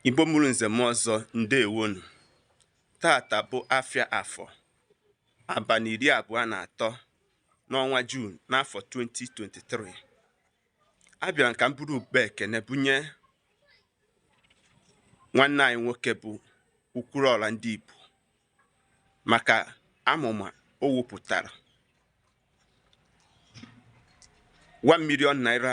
Igbo mụrụ nze mụọ ọzọ ndewonụ taata bụ afịa afọ abalị iri abụọ na atọ n'ọnwa Juun n'afọ 2023 abịara m ka m buru ụkpa ekene bunye nwanne anyị nwoke bụ Okwuluọra ndị Igbo maka amụma o wepụtara 1 million naira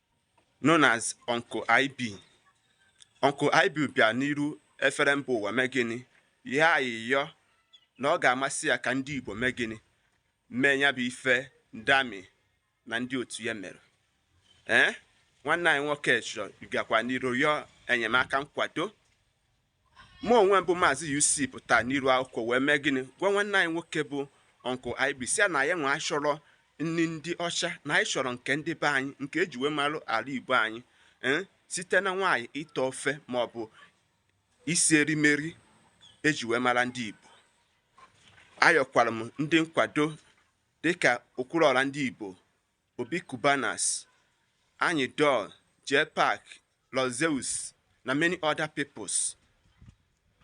known as Uncle IB. Uncle IB bịa n'iru efere mba ụwa mee gịnị ihe ayịyọ na ọ ga-amasị ya ka ndị Igbo mee gịnị mee ya bụ ife Dammy na ndị otu ya mere ee eh? nwanne anyị nwoke chọrọ ịgakwa n'iru yọọ enyemaka nkwado mụ onwe m bụ maazị UC pụta n'iru akwụkwọ wee mee gịnị gwa nwanne anyị nwoke bụ Uncle IB sị ya na anyịnwa achọrọ nri ndị ọcha na anyị chọrọ nke ndị be anyị nke eji wee mara ala Igbo anyị eh, site na nwaanyị ite ofe ma ọ bụ isi erimeri eji wee mara ndị Igbo ayọkwara m ndị nkwado dịka Okwuluọra ndị Igbo Obi Cubana, Anyidons, JPAC, Lord Zeus na many other peoples.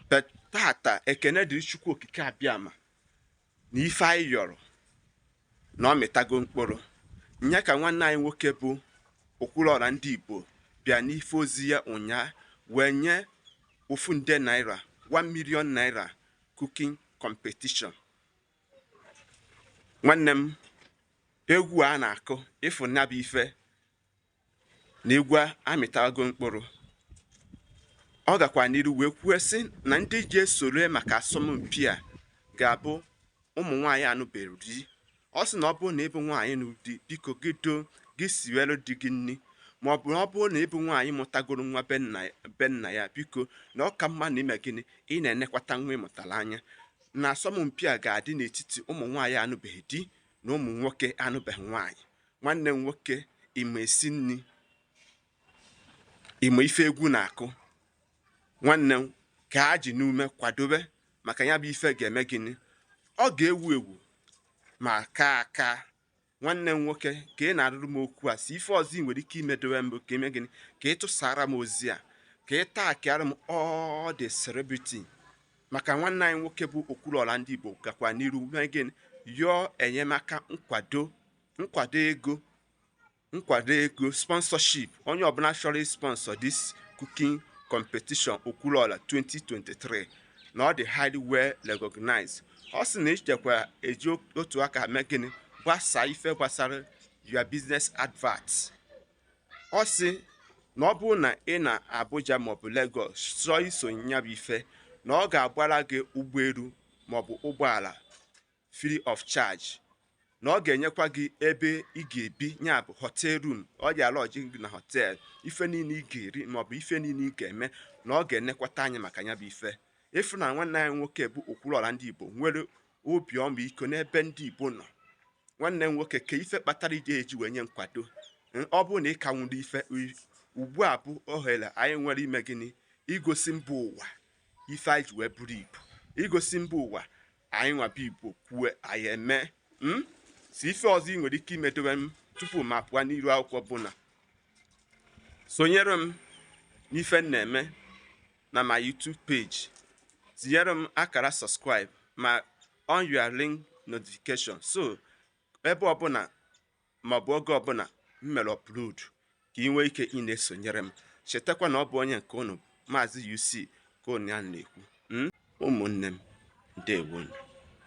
But taata ekene dịrị Chukwu okike abịama na ife anyị yọrọ na ọ mịtago mkpụrụ. Nya ka nwanne anyị nwoke bụ Okwuluọra ndị Igbo bịa n'ife ozi ya ụnyaa wee nye ofu nde naira 1 million naira cooking competition nwanne m egwu a na-akụ ịfụ nya bụ ife na egwu amịtago mkpụrụ ọ gakwa n'iru wee kwuo sị na ndị ji esoro maka asọmpi a ga-abụ ụmụ nwaanyị anụbeghị di ọ sị na ọ bụrụ na ị bụ nwaanyị nọ di biko gị siwere di gị nri ma ọ bụ na ọ bụrụ na ị bụ nwaanyị mụtagoro nwa be nna ya biko na ọ ka mma na i mee gịnị ị na-enekwata nwa ị mụtara anya na asọmpi a ga-adị n'etiti ụmụ nwaanyị anụbeghị di na ụmụ nwoke anụbeghị nwaanyị nwanne m nwoke ị ma esi nri ị ma ife egwu na-akụ nwanne m ka a ji n'ume kwadobe maka ya bụ ife ga-eme gịnị ọ ga-ewu ewu ma kaa aka nwanne m nwoke ka ị na-arụrụ m okwu a si ife ọzọ ị nwere ike imedowe m bụ ka i mee gịnị ka ị tụsara m ozi a ka ị taagịara m all the celebrity maka nwanne anyị nwoke bụ Okwuluọra ndị Igbo gakwa n'iru mee gịnị yọọ enyemaka nkwado ego sponsorship onye ọbụla chọrọ ị-sponsor this cooking competition Okwuluọra 2023 na ọ dị highly well recognized ọ sị na ichekwa eji otu aka mee gịnị gbasaa ife gbasara your business adverts ọ sị na ọ bụrụ na ị nọ Abuja maọbụ Lagos chọọ isonye ya bụ ife na ọ ga-agbara gị ụgbọelu maọbụ ụgbọala free of charge na ọ ga-enyekwa gị ebe ị ga-ebi ya bụ hotel room ọ ga-alọjị gị na hotel ife niile ị ga-eri maọbụ ife niile ị ga-eme na ọ ga-enekwata anya maka ya bụ ife ị fụ na nwanne anyị nwoke bụ Okwuluọra ndị Igbo nwere obi ọmịiko n'ebe ndị Igbo nọ nwanne m nwoke ka ife kpatara iji eji wee nye nkwado hmm, ọ bụrụ na ị ka nwere ife ugbu a bụ ohere anyị nwere ime gịnị igosi mba ụwa ife anyị ji wee bụrụ Igbo igosi mba ụwa anyị nwa bụ Igbo kwue anyị eme hmm? so ife ọzọ ị nwere ike imedowe m tupu m apụọ n'iru akwụkwọ bụ na sonyere m n'ife m na-eme na my YouTube page tinyere m akara subscribe ma on your link notification so ebe ọbụla ma ọ bụ oge ọbụla m mere upload ka ị nwee ike ị na-esonyere m chetakwa na ọ bụ onye nke unu maazị UC ka unu ya na-ekwu hmm? ụmụnne m ndewonu